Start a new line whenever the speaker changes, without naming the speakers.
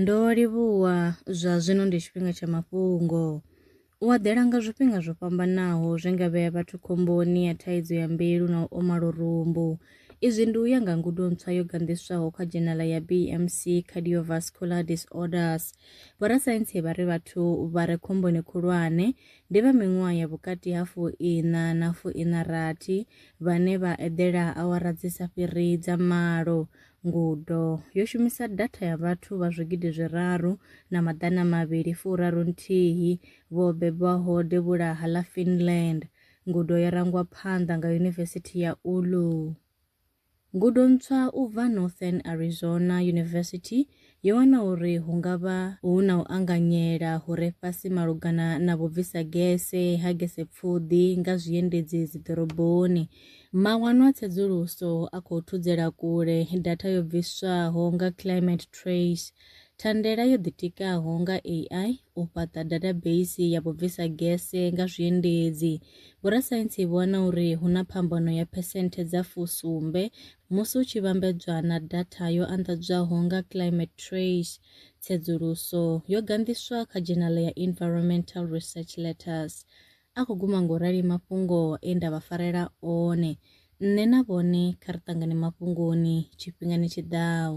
Ndo livhuwa zwa zwino ndi tshifhinga tsha mafhungo. U aḓela nga zwifhinga zwo fhambanaho zwi nga vhea vhathu khomboni ya thaidzo ya mbilu na u oma lurumbu. Izwi ndi u ya nga ngudo ntswa yo ganḓiswaho kha dzhenala ya BMC Cardiovascular Disorders. Vhorasaintsi vha ri vhathu vha re khomboni khulwane ndi vha miṅwaha ya vhukati ha fu-iṋa na fu-iṋa-rathi vhane vha eḓela awara dzi sa fhiri dza malo Ngudo yo shumisa datha ya vhathu vha zwigidi zwiraru na maḓana mavhili furaru nthihi vho bebwaho devhulaha ḽa Finland. Ngudo yo rangwa phanḓa nga Yunivesithi ya Oulu. Ngudo ntswa u bva Northern Arizona University Yo wana uri hu nga vha hu na u anganyela hu re fhasi malugana na vhubvisa gese ha gesepfuḓi nga zwiendedzi dziḓoroboni. Mawanwa a tsedzuluso a khou thudzela kule datha yo bviswaho nga Climate Trace, thandela yo ḓitikaho nga AI u fhaṱa dathabeisi ya vhubvisa gese nga zwiendedzi. Vhorasaintsi vho wana uri hu na phambano ya phesenthe dza fusumbe Musi hu tshi vhambedzwa na datha yo anḓadzwaho nga Climate Trace, tsedzuluso yo ganḓiswa kha dzhenala ya Environmental Research Letters. A khou guma nga u rali mafhungo e nda vha farela one. Nṋe na vhone kha ri ṱangane mafhungoni tshifhingani tshi ḓaho.